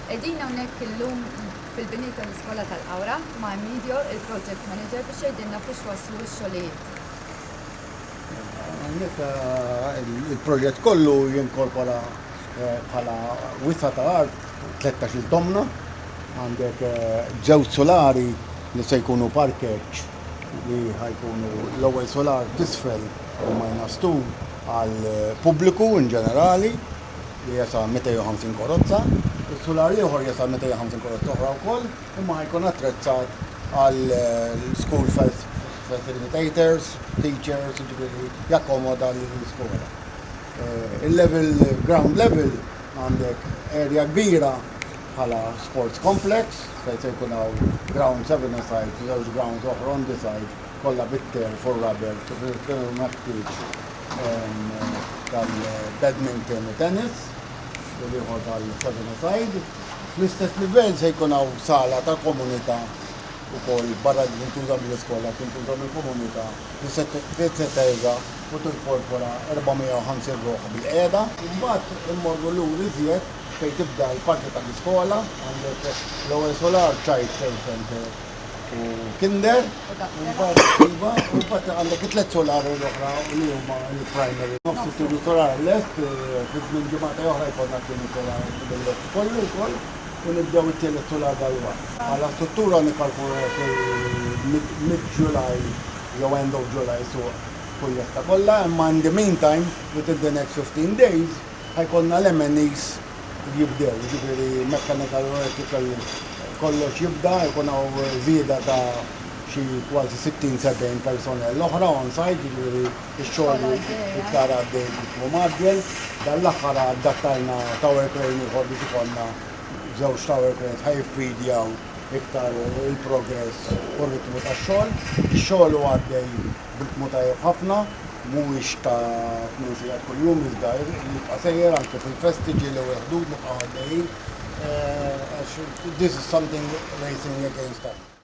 Qegħdin hawnhekk illum fil-bini tal-Iskola tal-Qawra ma' Emilio, il-Project Manager biex jgħidilna fiex waslu x-xogħlijiet. Hawnhekk eh, il-proġett kollu jinkorpora eh, bħala wisa ta' art 13 tomna, għandek eh, ġew solari li se jkunu parkeġġ li ħa jkunu l-ewwel solar t'isfel u minus two għal pubbliku in ġenerali li jesa' 250 korozza. Is-sular l-ieħor jesa' 250 korozza oħra wkoll imma ħa jkun attrezzat għal school facilitators, teachers, jiġifieri jakkomoda l-iskola. Il-level, ground level għandek area kbira bħala sports complex fejn se jkun hawn ground seven-a-side u żewġ grounds oħra on the side kollha bit-turf u r-rubber kif ikun meħtieġ tal-badminton u tennis u l-ieħor tal-seven-a-side. Fl-istess livell se jkun hawn sala ta' komunità ukoll barra li tintuża mill-iskola tintuża mill-komunità li se teża' u tinkorpora 450 ruħ bil-qiegħda. Imbagħad immorru lura iżjed Fejn tibda l-parti tal-iskola għandek l-ewwel solar, child care center u kinder, imbagħad iva, u mbagħad għandek it-tliet solari l-oħra li huma l-primary. Nofs it-tieni solar lest, fi żmien ġimagħtej oħra jkollna t-tieni solar lest kollu wkoll u nibdew it-tielet solar dalwaqt. Bħala struttura nikkalkulaw li fil-mid-July jew end of July suq tkun lesta kollha, imma in the meantime, within the next 15 days, Ħa jkollna l-MNEs jibdew, jiġifieri mechanical u electrical kollox jibda, ikun hawn żieda ta' xi kważi sittin, sebgħin personnel oħra on site, jiġifieri x-xogħol iktar għaddej b'ritmu mgħaġġel. Dan l-aħħar addattajna tower crane ieħor biex ikollna żewġ tower cranes ħa jiffidjaw iktar il-progress u r-ritmu tax-xogħol. Ix-xogħol hu għaddej. b'ritmu tajjeb ħafna, mhuwiex ta' tmien sigħat kuljum iżda jibqa' sejjer anke fil-festi ġie l-ewwel ħdud nibqgħu għaddejjin għax this is something racing against time.